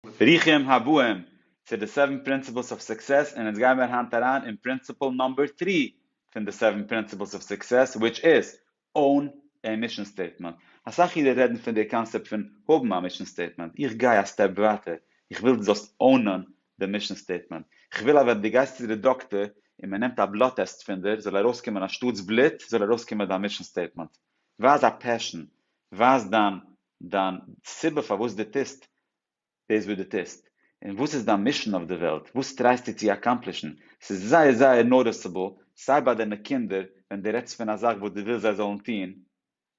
ברוכים הבאים צו די סעווען פרינציפלס אוו סוקסעס און אונז גייען מיר היינט אריין אין פרינציפל נאמבער טרי פון די סעווען פרינציפלס אוו סוקסעס וויטש איז own a mission statement אסאך אידן רעדן פון די קאנסעפט פון האבן א מישן סטעיטמענט איך גיי א סטעפ ווייטער איך וויל דו זאלסט אונען די מישן סטעיטמענט איך וויל אז ווען דו גייסט צו די דאקטער און מען נעמט א בלאט טעסט פון דיר זאל ארויסקומען אנשטאטס בלוט זאל ארויסקומען דיין מישן סטעיטמענט ווייז א פעשן ווייז דיין דיין סיבה פארוואס דו טוסט דאס וואס דו טוסט, און וואס איז דיין מישען אויף די וועלט, וואס טרייסטו צו אקאמפלישן, ס'איז זייער זייער נאוטיסעבל, סיי ביי דיינע קינדער ווען דו רעדסט פון א זאך וואס דו ווילסט זיי זאלן טון,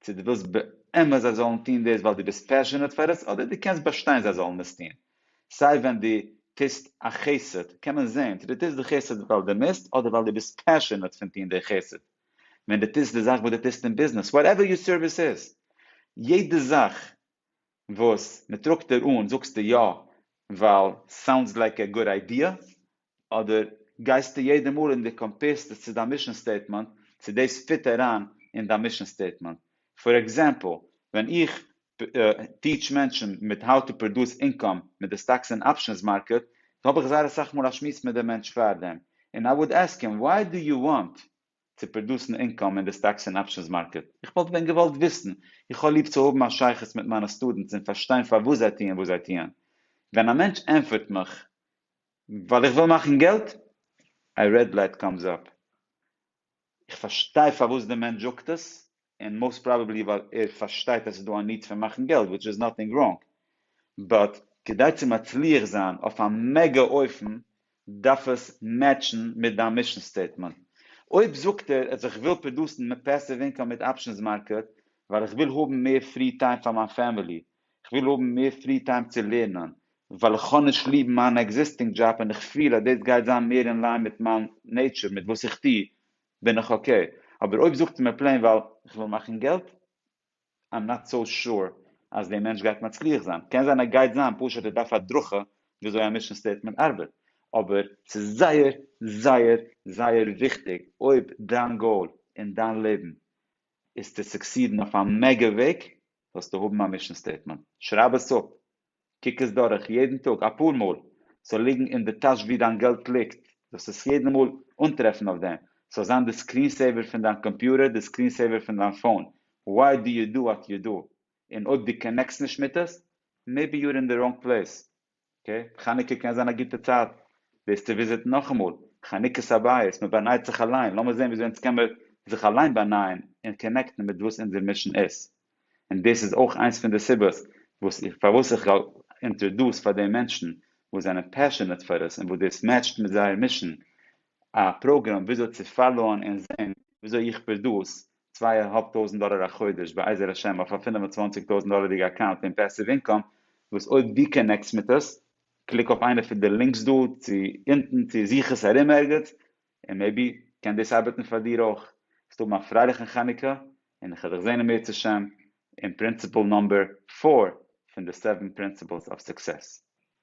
צו דו ווילסט באמת זיי זאלן טון דאס ווייל דו ביסט פעשענעט פאר עס, אדער דו קענסט באשטיין זיי זאלן עס טון, סיי ווען דו טוסט א חסד קען מען זען צו דו טוסט די חסד ווייל דו מוזט, אדער ווייל דו ביסט פעשענעט פון טון די חסד. ווען דו טוסט די זאך וואס דו טוסט אין ביזנעס, וואטעווער יור סערוויס איז, יעדע זאך וואס מען טראגט דיר אן זאגסטו יא ווייל סאונדס לייק א גוד איידיע, אדער גייסטו יעדע מאל און דו קאמפעירסט עס צו דיין מישן סטעיטמענט צו דאס פיט אריין אין דיין מישן סטעיטמענט. פאר עקזעמפל, ווען איך טיעטש מענטשן מיט האו טו פראדוס אינקאם מיט די סטאקס און אפשענס מארקעט, האב איך זייער אסאך מאל א שמועס מיט די מענטש פאר דעם, און איי וואלד עסק הים וויי דו יו וואנט צו פראדוסן אינקאם אין די סטאקס און אפשענס מארקעט, איך וואלט ווען געוואלט וויסן, איך האב ליב צו האבן א שייכות מיט מיינע סטודענטס און פארשטיין פארוואס זיי טוען וואס זיי טוען, ווען א מענטש ענפערט מיך ווייל איך וויל מאכן געלט, א רעד לייט קאמס אפ, איך פארשטיי פארוואס די מענטש זאגט עס, און מאוסט פראבעבלי ווייל ער פארשטייט אז עס איז דא א ניד פון מאכן געלט, וויטש איז נאטינג ראנג, באט כדי צו מצליח זיין אויף א מעגא אופן דארף עס מעטשן מיט דיין מישן סטעיטמענט. אויב זאגט ער אז איך וויל פראדוסן מער פעסיוו אינקאם מיט אפשענס מארקעט ווייל איך וויל האבן מער פרי טיים פאר מיין פעמילי, כ'וויל האבן מער פרי טיים צו לערנען, ווייל איך האב נישט ליב מיין עקזיסטינג דזשאב און איך פיל אז דאס גייט זיין מער אין ליין מיט מיין נעיטשור, מיט וואס איך טוה בין איך אקעי, אבער אויב זאגט מיר פלעין ווייל איך וויל מאכן געלט, איים נאט סאו שור אז דער מענטש גייט מצליח זיין, קען זיין ער גייט זיין, פשוט ער דארף הדרכה וויאזוי א מישן סטעיטמענט ארבעט, אבער ס'איז זייער זייער זייער וויכטיג אויב דיין גאול אין דיין לעבן איז צו סוקסידן אויף א מעגא וועג, זאלסטו האבן א מישן סטעיטמענט, שרייב עס אפ, קוק עס דורך יעדן טאג אפאר מאל, ס'זאל ליגן אין די טאש ווי דיין געלט ליגט, זאלסט עס יעדן מאל אנטרעפן אויף דעם, ס'זאל זיין די סקרין סעיווער פון דיין קאמפיוטער, די סקרין סעיווער פון דיין פאון, וואי דו ידו את ידו, און אויב דו קאנעקסט נישט מיט עס, מעיבי יו אר אין די ראנג פלעיס, אקעי, חנוכה קען זיין א גוטע צייט דאס צו וויזיטן נאכאמאל, חנוכת הבית, מען באנייט זיך אליין, לאמיר זען וויאזוי אונז קען מיר זיך אליין באנייען און קאנעקטן מיט וואס אונזער מישן איז, און דאס איז אויך איינס פון די סיבות וואס איך פארוואס איך גיי אינטרעדוס פאר די מענטשן וואס זענען פעשענעט פאר עס און וואס דאס מעטשט מיט זייער מישן א פראגראם וויאזוי צו פאלאוען און זען וויאזוי איך פרדוס צוויי א האלב טויזנט דאלער א חודש בעזר השם אויף א פֿינף און צוואַנציק טויזנט דאלערדיגע אקאונט פון פעסיוו אינקאם וואס אויב דו קאנעקטס מיט עס קליק אויף איינע פון די לינקס דא צו אונטן צו זוך עס ארום ערגעץ און מעיבי קען דאס ארבעטן פאר דיר אויך וועסט האבן א פרייליכן חנוכה און איך וועל דיך זען אם ירצה השם אין פרינציפעל נאמבער פֿיר פון די סעווען פרינסיפעלס אוו סוקסעס.